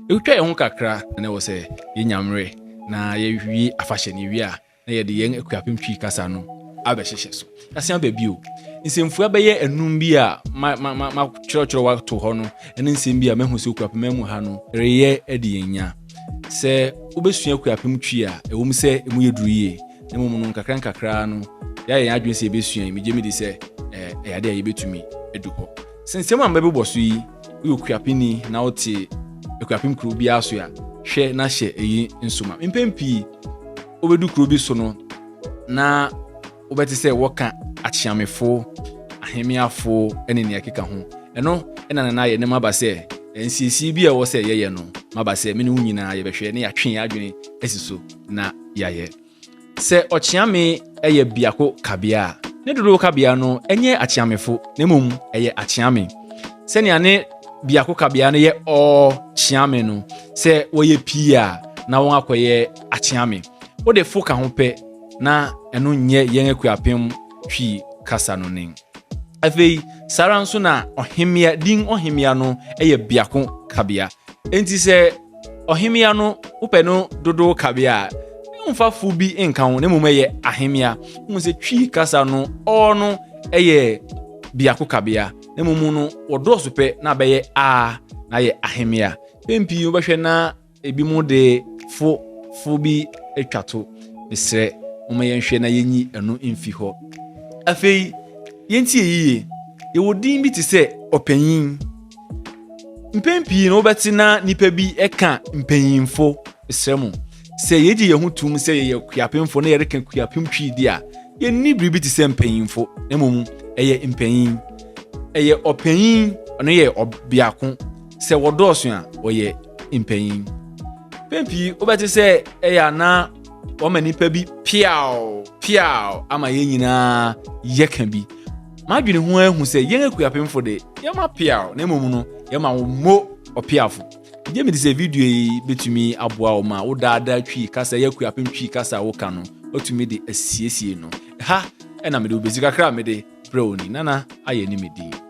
Etwitwa yɛn ho kakra na ɛwɔ sɛ yenya mmere na yɛawie afahyɛ no. Yɛwie a, na yɛde yɛn Akuapem Twi kasa no abɛhyehyɛ so. Yɛasan aba bio. Nsɛmfua bɛyɛ anum bi a makyerɛkyerɛw ato hɔ no ne nsɛm bi a mahu sɛ Akuapem mu ha no reyɛ adi yɛn nya. Sɛ wobɛsua Akuapem Twi a, ɛwom sɛ emu yɛ duru yie, na mmom no nkakrankakra no yɛayɛ yɛn adwene sɛ yɛbɛsua yi. Megye medi sɛ ɛyɛ ade a yɛbɛtumi adu hɔ. Sɛ nsɛm a mɛbobɔ so yi, woyɛ okuapeni na wote akuapem kurow biara so a, hwɛ na hyɛ eyi nso ma. Mpɛn pii, wobedu kurow bi so no, na wobɛte sɛ wɔka akyeamefo, ahemmeafo ne nea ɛkeka ho. Ɛno na na ayɛ ne maba sɛ nsiesie bi a ɛwɔ sɛ yɛyɛ no, maba sɛ me ne wo nyinaa yɛbɛhwɛ na yɛatwe yɛn adwene asi so na yɛayɛ. Sɛ ɔkyeame yɛ biako kabea a, ne dodow kabea no nyɛ akyeamefo na mmom ɛyɛ akyeame. Sɛnea ne biako kabea no yɛ ɔkyeame no, sɛ wɔyɛ pii a, na wɔakɔyɛ akyeame. Wode fo ka ho pɛ na ɛno nyɛ yɛn akuapem Twi kasa no nen. Afei, saa ara nso na ɔhemmea, din ɔhemmea no yɛ biako kabea. Enti sɛ Ɔhemmea no, wopɛ no dodow kabea a, mfa fo bi nka ho, na mmom ɛyɛ ahemmea. Wohu sɛ Twi kasa no, ɔ no yɛ biako kabea, na mmom no wɔdɔɔso pɛ na abɛyɛ a na ayɛ ahemmea. Mpɛn pii wobɛhwɛ na ebi mu de fo fo bi atwa to. Mesrɛ, momma yɛnhwɛ na yenyi ɛno mfi hɔ. Afei, yentie yiye. Yɛwɔ din bi te sɛ ɔpanyin. mpɛn pii no wobɛte na nnipa bi ka mpanyimfo srɛ mu sɛ yɛgye yɛn ho tom sɛ yɛyɛ kuapemfo na yɛreka kuapem twi di a yɛnni biribi te sɛ mpanyimfo na mmom ɛyɛ mpanyin ɛyɛ ɔpanyin ɔno yɛ ɔbiako sɛ wɔdɔɔso a wɔyɛ mpanyin mpɛn pii wobɛte sɛ ɛyɛ anaa wɔma nnipa bi piaw piaw ama yɛn nyinaa yɛka bi madwene ho ahu sɛ yɛn akuapemfo de yɛma piaw na mmom no yɛma wo mmo ɔpiafo gye mede sɛ video yi bɛtumi aboa wo ma wo daadaa twi kasa yɛ akuapem twi kasa a woka no watumi de asiesie no ha ɛna mede wobɛsi kakra a mede brɛ wo ni nana ayɛ ne medin